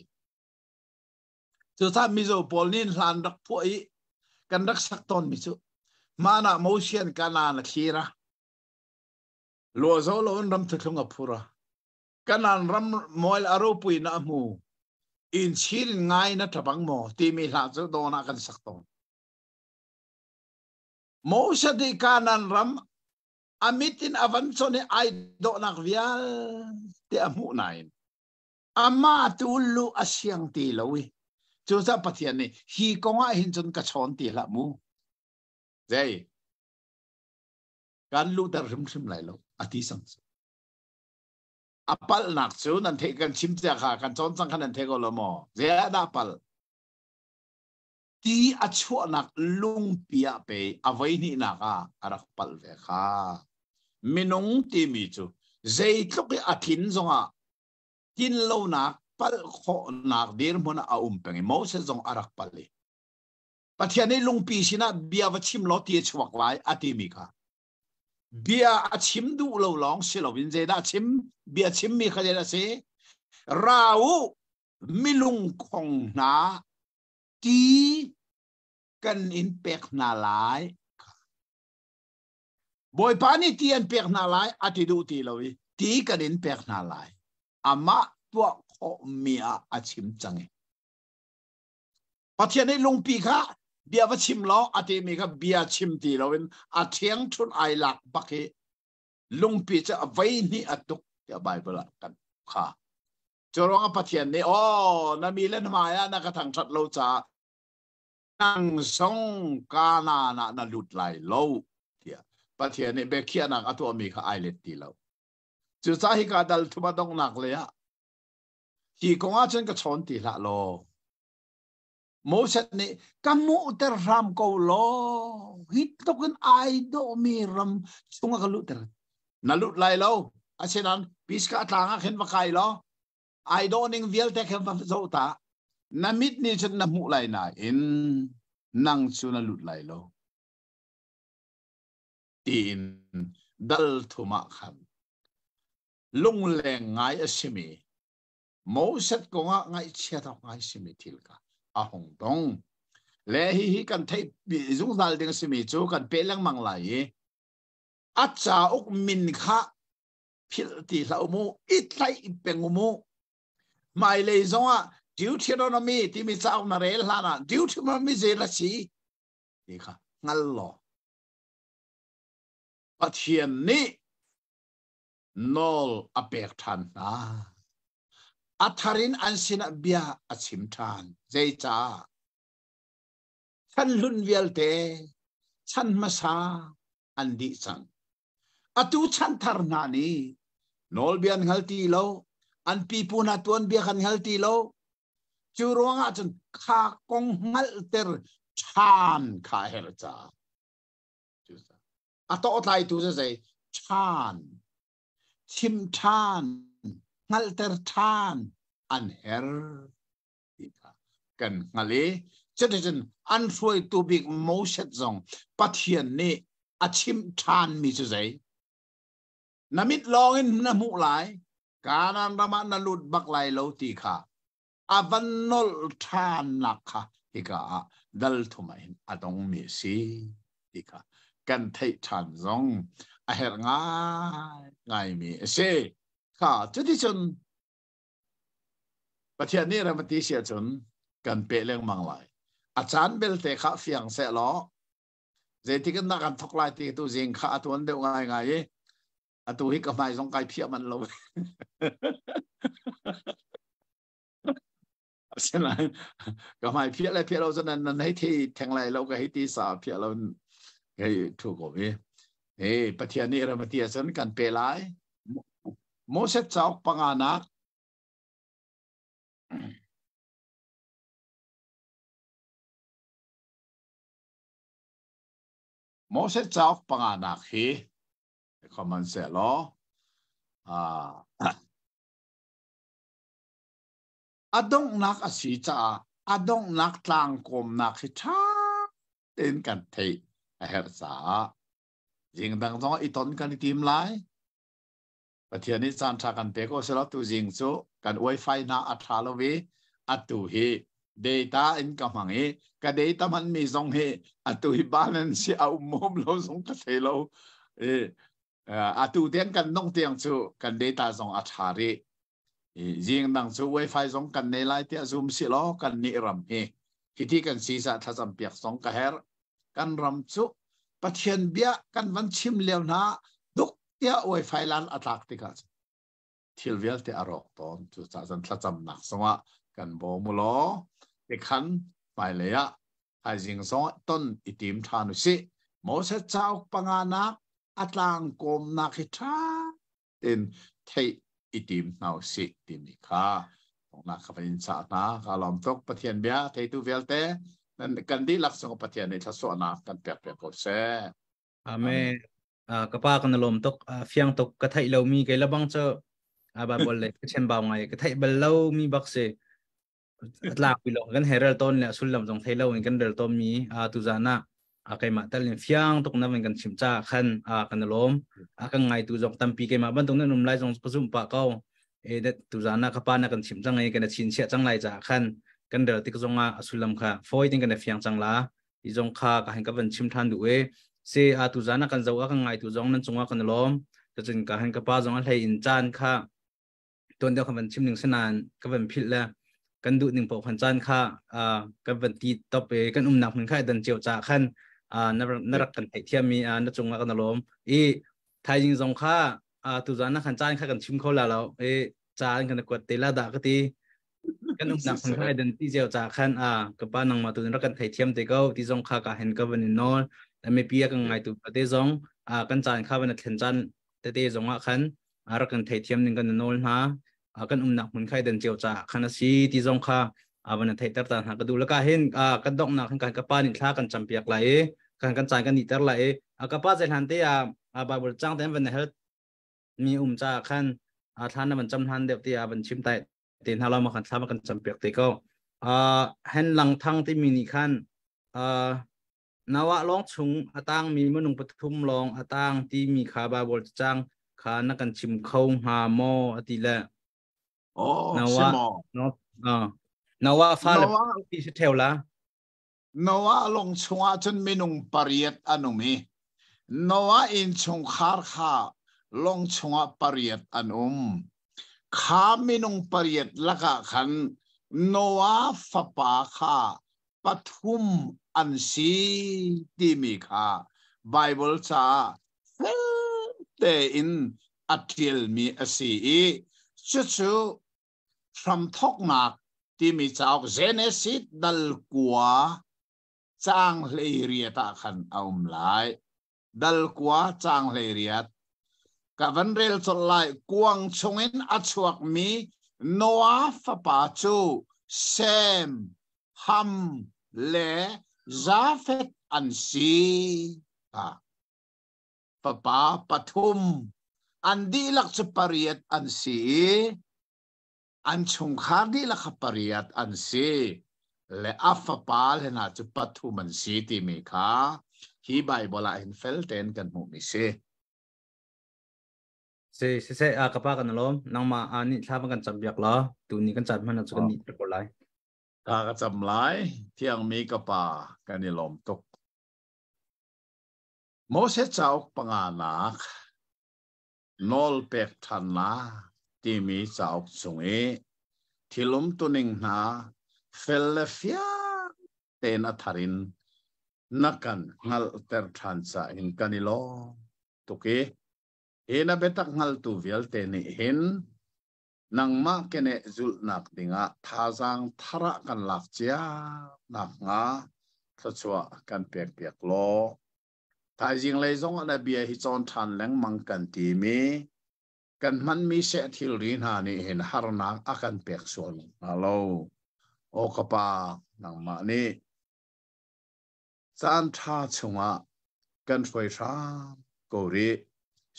Cucah mizo pawl nih hlan rak phuah i kan rak sak tawn mi cu. Mana mosian kana na thlira. Lo zo lo in ram thutlung a phura. kanan ram moil a ropui na hmu in chin ngai na tabang mo timi hla cu don ah kan sak ton Moshe di kanan ram amitin avan chone ai do nak vial te a mu nain ama tu lu asiang ti lo i cu sa pathian ni hi kongah hin chun ka chon ti la mu jai kan lu ter hrim hrim lai lo ati sang A palhnak cu nan theih kan chim cia kha kan cawn cang kha nan theih ko lo maw? Zeiah dah palh? Ti a chuahnak lungpi ah pei a voi hnihnak ah a rak palh ve kha. Minung timi cu zeitluk i a thin zongah tinlonak palh khawhnak dirhmun ah a um peng i Moses zong a rak palh i Pathian nih lungpi sinah bia va chim law ti a chuak lai a timi kha Bia a chim duh lo lawng si loin zeidah chim? Bia chimmi kha zeidah a si? Ra u, milungkhong hna, ti kan in pek hna lai. Bawipa nih ti an pek hna lai, a ti duh ti lo i ti kan in pek hna lai. Amah tuah khawhmi ah a chim cang. Pathian nih lungpi kha bia va chim law a temi kha bia chim ti loin a ṭhiang ṭhun ai lak bak hi lungpi cu a vei hnih a tuk tiah Baibal ah kan kha. Cu ruangah Pathian nih aw na mi len hmai ah na ka thangṭhat lo caah nang zong kanan ah na lut lai lo tiah Pathian nih biakhiahnak a tuahmi kha ai let ti lo. Cucah hika dal thuma donghnak lei ah Hi kong ah cun ka chawn ti hlah law, Moses nih ka hmuhter hram ko law, hi tluk in ai dawhmi ram chungah ka luhter. Na lut lai lo, asinan piska tlang ah khin va kai law, ai dawhning vialte khin va zo ta. Na mit nih cun na hmuh lai nain nang cu na lut lai lo. Tiin dal thum ah khan lungleng ngai a simi Moses kong ah ngaihchiat awk ngai simi thil kha a hung dong le hi hi kan theih zungzal ding simi cu kan pe lengmang lai i a cauk min kha philh ti hlah mu it hlai peng mu hmailei zongah Deuteronomy timi cauk na rel hlan ah Deuteronomy zei ra si ti kha hngal law Pathian nih nawl a pek ṭhan hna. A thar in an sinah bia a chim ṭhan. Zeicah? Chan hlun vialte, chan hmasa an dih cang. Atu chan thar hna nih nawlbia an hngal ti lo, an pipu hna tuanbia kan hngal ti lo. Cu ruangah cun kha kong hngalhter ṭhan kha a herh caah. a tawhtlaitu cu zei ṭhan chim ṭhan hngalhter ṭhan an her ti kha kan hngalh i cuticun an hruaitu bik Moses zong Pathian nih a chimh ṭhanmi cu zei na mit lawngin na hmuh lai Kanaan ram ah na lut bak lai lo ti kha a van nolh ṭhannak kha hika ah dalthum in a dongmi si ti kha kan theih ṭhan zong a herh ngaimi a si. Kha cuticun Pathian nih ram a ti si ahcun kan peh lengmang lai. A caan belte kha fiang seh law, zeitik in dah kan thok lai ti tu zing kha a tuan deuh ngaingai i Atu hi ka hmai zong kai phiah manh lo. Asinain ka hmai phiah le phiah lo cun nan nan hei thi theng lai lo ka hei ti sa phiah lo hei thu ko hi. Hey, Pathian nih ramati cun kan pe lai. Moses cauk panganak Moses cauk panganak hi Hmanhsehlaw a donghnak a si caah a donghnak tlangkawmnak hi ṭha tein kan theih a herh caah zing dang zong i ton kan i tim lai. Pathian nih caan ṭha kan pek ko silo tu zing cu kan uai fai hna a ṭha lo i atu hi data in ka hmang i ka data hmanmi zong hi atu hi ban an si a um mawm lo zong ka thei lo i atu tiang kan nong tiang cu kan data zong a tha ri jing dang cu wifi zong kan nei lai tiah zoom si lo kan ni ram hi hiti kan si sa thlacam piak zong ka her kan ram cu pathian bia kan van chim leo na duk tia wifi lan atlak tikah thil vialte a rawk tawn cucahcun thlacamnak zongah kan bawm u law tikhan hmailei ah thaizing zong ton i tim ṭhan u sih Moses cauk panganak a tlang kawmnak hi ṭha tein theih i tim hna u sih timi kha nak ka in sa hna ka lom tuk pathian bia theitu vialte kan dihlak sung pathian nih thlasawhnak kan pek pe ko seh Amen. Ah, ka pa ka na lawm tuk ah, fiang tuk ka theih lomi kei labang cu aba bol le ka chen bau ngai ka theih bal lo mi bak si tlak pi long kan herel ton le sullam jong thei lo in kan rel ton mi a tu zana a kai ma tal in fiang tuk na in kan chim cha khan a kan lawm a kan ngai tu jong tampi ke ma ban tung na num lai jong ka zum pa ko e de tu zana ka pa na kan chim chang ai kan chin sia chang lai cha khan kan rel tik zonga a sullam kha foi tin kan fiang chang la ti zong kha ka han ka van chim ṭhan duh e se a tu zan a kan zo a kan ngai tu zong nan cungah kan lawm tachin ka han ka pa zong a hlei in caan kha ton deuh kan van chim ning sanan ka van phil le kan duh ning po khan caan kha ka van ti top e kan um nak min kha dan cheu cha khan na rak kan thei thiam mi na cungah kan lawm i thaizing zong kha tu zan na khan caan kha kan chim kho la lo e caan kan kuat te la da ka ti kan umnak phun khan identity zeo ca khan a ka pa nangma tu ra kan thei thiam te ko ti zong kha ka hen ka van in nol da me pi kan ngai tu pa te zong a kan chan kha van thlen chan te te zong a khan a ra kan thei thiam ning kan nol na kan umnak phun khai dan cheu cha khan asi ti zong kha avan thei tar ta na ka du la ka hin a kan dok nak kan ka pa ni thla kan cham piak lai kan kan chan kan ni tar lai a ka pa sai hlan te a bible chang ten van health mi um ca ah khan thlan na van cam hlan deuh ti a van chim tai te hna lo ma kan thlam kan cam piak te ko hen lang thang ti mi nih khan nawa long chung atang mi manung pathum long atang ti mi kha bible chang kha na kan chim kho nga mo ati le oh nawa no nawa fa le ti se theo la Noah lung chungah cun minung pariat an um i Noah innchungkhar kha lung chungah pariat an um. Kha minung pariat lakah khan Noah fapa kha pathum an si timi kha Baibal caah felte in a ṭialmi a si i cucu hramthoknak timi cauk Genesis dal kua caang hleiriat ah khan a um lai dal kua caang hleiriat ka van rel col lai kuang chungin a chuak mi Noah fapa cu Sem Ham le Jafet an si. Ah. fapa pathum an dihlak cu pariat an si i an chungkhar dihlak kha pariat an si le a fapa le hna cu pathum an si timi kha hi Baibal ah hin feltein kan hmuhmi si. Si siseh a ka pa kan lawm nangmah a nih thla kan cam biak la tu ni kan cam hmana cu kan ni ko lai. Ka ka cam lai thiangmi ka pa kan i lawm tuk. Moses cauk panganak nawl pek ṭhannak timi cauk chung i thil umtuning hna fel le fiang tein a thar in na kan hngalhter ṭhan ca in kan i lawm tuk i hi na biatak hngaltu vialte nih hin nangmah keneh zulhnak dingah thazaang thara kan lak cia nakhnga thluachuah kan pekpiak law thaizing lei zong na bia hi cawn ṭhan lengmang kan timi kan hmanmi seh thilri hna nih hin harnak a kan pek sual hna lo o ka pa nangmah nih caan ṭha chungah kan hruai hram ko rih.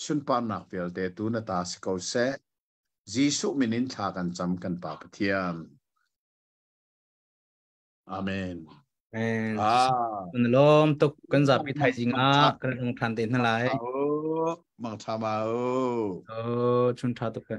Sunparnak vialte tu na ta si ko seh. Jesuh min in thla kan cam kan Pa Pathian. Amen. Amen. Ah. Kan lom tuk kan zapi thai jing ah kan lung than te na lai. Oh, mang tha ma o. Oh, chun tha tuk ka.